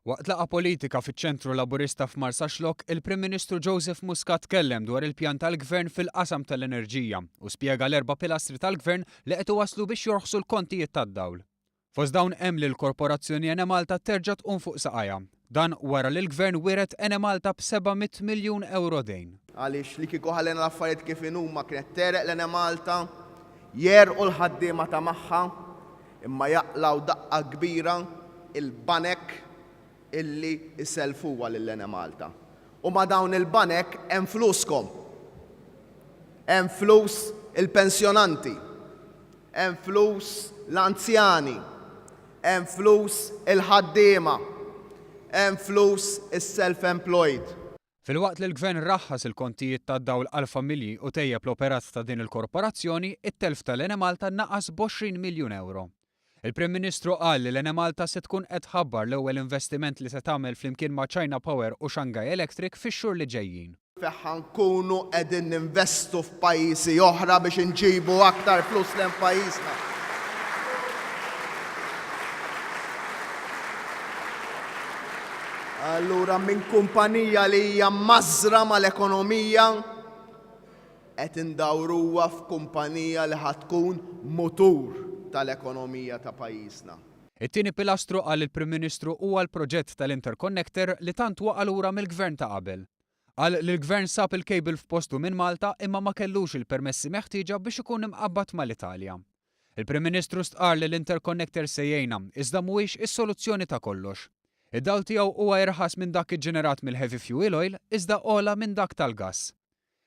Waqt laqgħa politika fiċ-Ċentru Laburista f'Marsaxlokk, il-Prim Ministru Joseph Muscat tkellem dwar il-pjan tal-Gvern fil-qasam tal-enerġija u spjega l-erba' pilastri tal-Gvern li qed iwasslu biex jorħsu l-kontijiet tad-dawl. Fost dawn hemm li l-Korporazzjoni Enemalta terġa' tqum fuq saqajha. Dan wara li l-Gvern wiret Enemalta b'700 miljun ewro dejn. Għaliex li kieku ħallejna l-affarijiet kif inhuma kienet tegħreq l-Enemalta, jegħrqu l-ħaddiema ta' magħha, Imma jaqlgħu daqqa kbira l-banek illi jsellfuha lil Enemalta. U ma' dawn il-banek hemm fluskom. Hemm flus il-pensjonanti. Hemm flus l-anzjani. Hemm flus il-ħaddiema. Hemm flus is-self-employed. Filwaqt li l-Gvern raħħas il-kontijiet tad-dawl għall-familji u tejjeb l-operat ta' din il-korporazzjoni, it-telf tal-Enemalta naqas b'għoxrin miljun ewro. Il-Prim Ministru qal li l-Enemalta se tkun qed tħabbar l-ewwel investiment li se tagħmel flimkien ma' China Power u Shanghai Electric fix-xhur li ġejjin. Fih ħa nkunu qegħdin ninvestu f'pajjiżi oħra biex inġibu aktar flus lejn pajjiżna. Allura minn kumpanija li hija mmażżra mal-ekonomija qed indawruha f'kumpanija li ħa tkun mutur tal-ekonomija ta' pajjiżna. It-tieni pilastru, qal il-Prim Ministru, huwa l-proġett tal-Interconnector li tant waqa' lura mill-Gvern ta' qabel. Qal li l-Gvern sab il-cable f'postu minn Malta imma ma kellux il-permessi meħtieġa biex ikun imqabbad mal-Italja. Il-Prim Ministru stqarr li l-interconnector se jgħinna, iżda mhuwiex is-soluzzjoni ta' kollox. Id-dawl tiegħu huwa irħas minn dak iġġenerat mill-heavy fuel oil iżda ogħla minn dak tal-gass.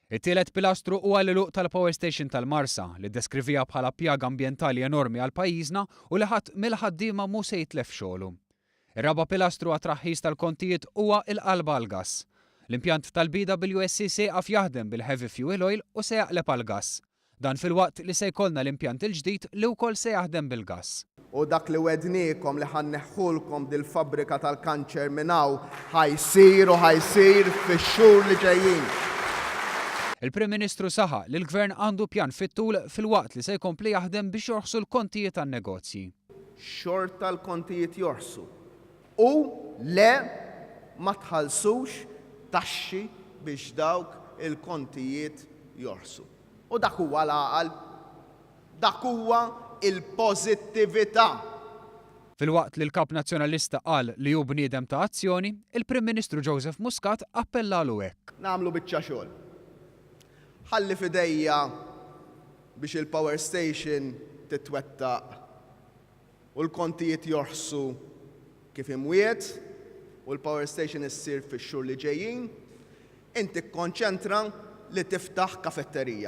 It-tielet pilastru huwa l-għeluq tal-power station tal-Marsa, li ddeskriviha bħala pjaga ambjentali enormi għal pajjiżna u li ħadd mill-ħaddiema mhu se jitlef xogħlu. Ir-raba' pilastru għat-traħħis tal-kontijiet huwa l-qalba għall-gass. L-impjant tal-BWSC se jieqaf jaħdem bil-heavy fuel oil u se jaqleb għall-gass. Dan filwaqt li se jkollna l-impjant il-ġdid li wkoll se jaħdem bil-gass. U dak li wegħdniekom li ħa nneħħulkom dil-fabbrika tal-kanċer minn hawn ħa jsir u ħa jsir fix-xhur li ġejjin. Il-Prim Ministru saħaq li l-Gvern għandu pjan fit-tul filwaqt li se jkompli jaħdem biex jorħsu l-kontijiet tan-negozji. Xorta l-kontijiet jorħsu. U, Le, ma tħallsux taxxi biex dawk il-kontijiet jorħsu. U dak huwa l-għaqal. Dak huwa l-pożittività. Filwaqt li l-Kap Nazzjonalista qal li hu bniedem ta' azzjoni, il-Prim Ministru Joseph Muscat appellalu hekk. Nagħmlu biċċa xogħol. Ħalli f'idejja biex il-power station titwettaq u l-kontijiet jorħsu kif imwiegħed u l-power station issir fix-xhur li ġejjin, inti kkonċentra li tiftaħ kafetterija.